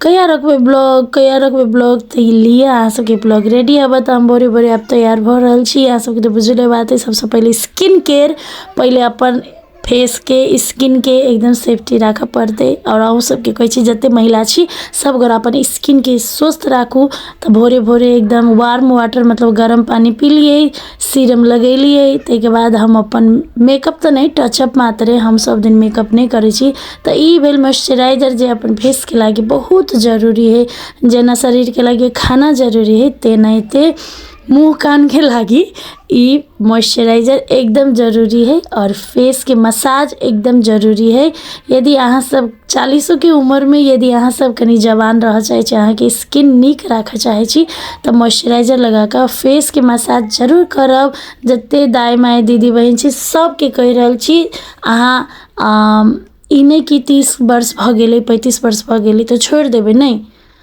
कहिया रखबै ब्लॉग कहिया रखबै ब्लॉग तऽ ई लिए अहाँ सबके ब्लॉग रेडी आबऽ तऽ हम भोरे भोरे आब तैयार भऽ रहल छी अहाँ सबके तऽ बुझले बात अइ सबसँ पहिले स्किन केयर पहिले अपन फेसके स्किनके एकदम सेफ्टी राखऽ पड़तै आओर अहूँ सबके कहै छी जतेक महिला छी सबगोरा अपन स्किनके स्वस्थ राखू तऽ भोरे भोरे एकदम वार्म वाटर मतलब गरम पानि पी लियै सीरम लगेलियै ताहिके बाद हम अपन मेकअप तऽ नहि टचअप मात्रे हम सभ दिन मेकअप नहि करै छी तऽ ई भेल मॉइस्चराइजर जे अपन फेसके लागि बहुत जरूरी हइ जेना शरीरके लागि खाना जरूरी हइ तेनाहिते मुँह कानके लागि ई मॉइस्चराइजर एकदम जरूरी हइ आओर फेसके मसाज एकदम जरूरी हइ यदि अहाँसभ चालीसोके उमरमे यदि अहाँसभ कनि जवान रहय चाहै छी अहाँके स्किन नीक राखय चाहै छी तऽ मॉइस्चराइजर लगा कऽ फेसके मसाज जरूर करब जतेक दाइ माइ दीदी बहीन छी सभके कहि रहल छी अहाँ ई नहि कि तीस वर्ष भऽ गेलै पैंतीस वर्ष भऽ गेलै तऽ छोड़ि देबै नहि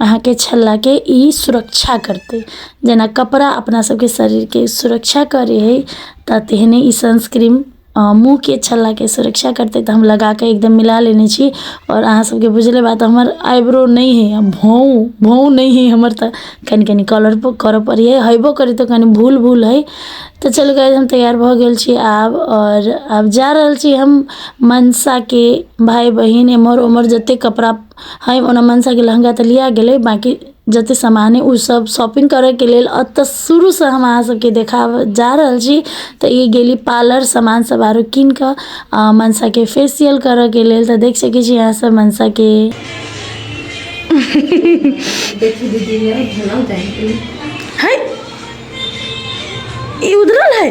अहाँके छल्लाके ई सुरक्षा करतै जेना कपड़ा अपना सबके शरीरके सुरक्षा करै है तऽ तेहने ई सनस्क्रीम मुँहके छल्लाके सुरक्षा करतै तऽ हम लगाके एकदम मिला लेने छी आओर अहाँ सबके बुझले बात हमर आइब्रो नहि है हम भौं भौं नहि है हमर तऽ कनी कनी कलर करऽ पड़ैये हेबो करै तऽ कनी भूल भूल है तऽ चलू गाइस हम तैयार भऽ गेल छी आब आओर आब जा रहल छी हम मनसाके भाय बहिन एमहर ओमहर जते कपड़ा हइ ओना मनसाके लहँगा तऽ लिआ गेलै बाँकी जतेक सामान हइ ओसब शॉपिङ्ग करैके लेल एतऽ शुरूसँ हम अहाँसबके देखाबऽ जा रहल छी तऽ ई गेली पार्लर सामानसब आओर किनिकऽ आओर मनसाके फेसिअल करऽके लेल तऽ देखि सकै छी अहाँसब मनसाके हइ ई उधरल हइ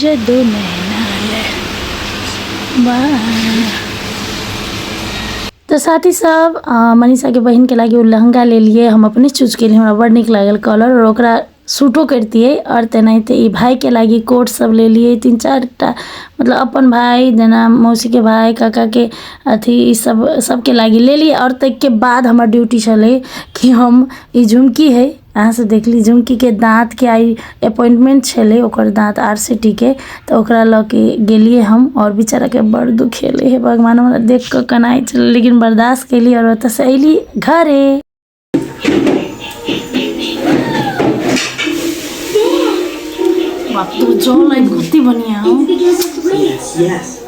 ਜਦੋਂ ਮੈਂ ਨਾਲ ਬਾ तो साथी साहब अ, मनीषा के बहन के लागे उ लहंगा ले लिए हम अपने चूज के लिए हमरा बड़ निक लागल कलर और ओकरा सूटो करतिए और तेनाहिते ई भाई के लागी कोट सब ले लिए तीन चार टा मतलब अपन भाई जेना मौसी के भाई काका के अथी ई सब सबके लागी ले लिए और तक के बाद हमर ड्यूटी छलै कि हम ई झुमकी है अहाँसँ देखली झुमकीके दाँतके आइ अपॉइंटमेंट छलै ओकर दाँत आर सी टी के तऽ ओकरा लऽ के गेलियै हम आओर बेचाराके बड़ दुखेलै हे भगवान हमरा देख कऽ कनाइ छलै लेकिन बर्दाश्त केली आओर ओतऽसँ अयली घरे बाप रे जल आइ कते बढ़िआँ हौ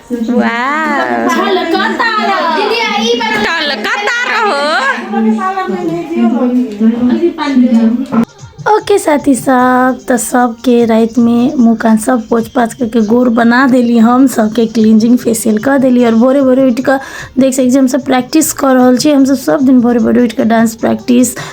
ओके साथी सब तऽ सबके रातिमे मुँह कान सब पोछ पाछ करके गोर बना देली हम सबके क्लींजिंग फेशियल कऽ देली आओर भोरे भोरे उठि कऽ देख सकै छी हमसब प्रैक्टिस कऽ रहल छी हमसब सब दिन भोरे भोरे उठि कऽ डांस प्रैक्टिस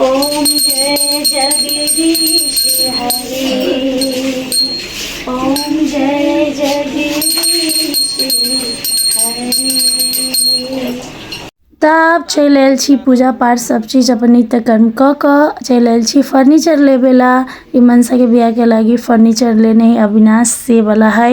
ओम जय जगदीश हरे ओम जय जगदीश हरे तऽ आब चलि आयल छी पूजा पाठ सब चीज अपन नित्य कर्म कऽ कऽ चलि आयल छी फर्नीचर लेबे ला ई मनसाके बियाहके लागी फर्नीचर लेने है अविनाश से बला है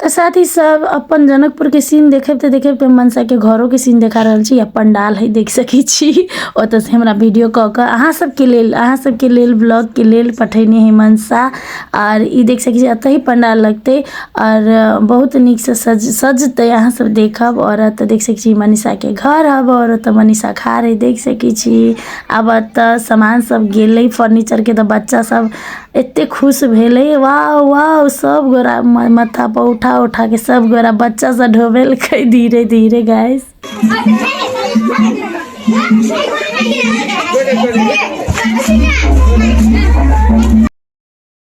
तऽ साथ ही सब अपन जनकपुर के सीन देखे तो देखे तो मनसा के घरों के सीन देखा रहा छी पंडाल है देख सके छी ओत से हमरा वीडियो क के अहाँ सब के लेल अहाँ सब के लेल ब्लॉग के लेल पठेने है मनसा और ई देख सके छी अत ही पंडाल लगते और बहुत निक से सज सजते अहाँ सब देखब और अत देख सके छी मनीषा के घर हब और अत मनीषा खा रही देख सके छी आब एतऽ समान सब गेलै फर्नीचरके तऽ बच्चा सब एते खुश भेलै वाह वाह सब गोरा माथापर उठा उठाके सब गोरा बच्चा सब ढोबेलकै धीरे धीरे गैस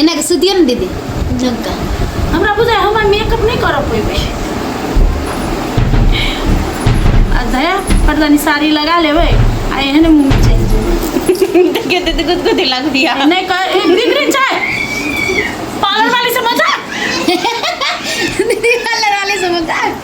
एना के सुदियो ने दीदी झुमका हमरा बुझाय हमरा मेकअप नहीं कर पेबे आ दया पटदानी साड़ी लगा लेबे आ एहन मुंह में चल जेबे देखे दे दे गुद दिला दिया नहीं कर ए, बिगड़ी जाए पार्लर वाली से मजाक दीदी वाले वाले से मजाक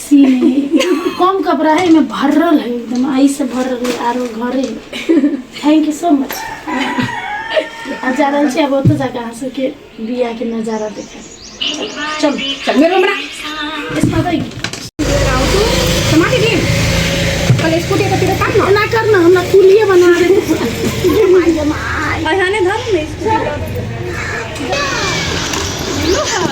सी में कम कपड़ा है में भरल है एकदम आई से भरल है आरो घरे थैंक यू सो मच आ जा रहल छी अब ओतऽ जाके अहाँ सबके बिया के नजारा देखे चल चल मेरे हमरा इसमें भाई टमाटर दे कल इसको दे तेरे काम ना ना करना हमरा कुलिए बना दे अहाने धर में इसको हेलो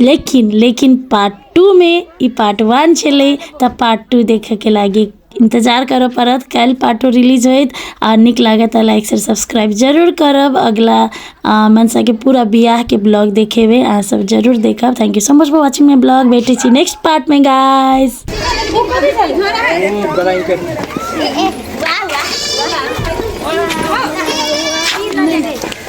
लेकिन लेकिन पार्ट टूमे ई पार्ट वन छलै तऽ पार्ट टू देखैके लागी इन्तजार करऽ पड़त काल्हि पार्ट टू रिलीज होइत आओर नीक लागत तऽ लाइक शेयर सब्सक्राइब जरूर करब अगिला अँ, मनसाके पूरा बियाहके ब्लॉग देखेबै अहाँ सब जरूर देखब thank you so much for watching my blog भेटै छी नेक्स्ट पार्टमे गाइस वाह वाह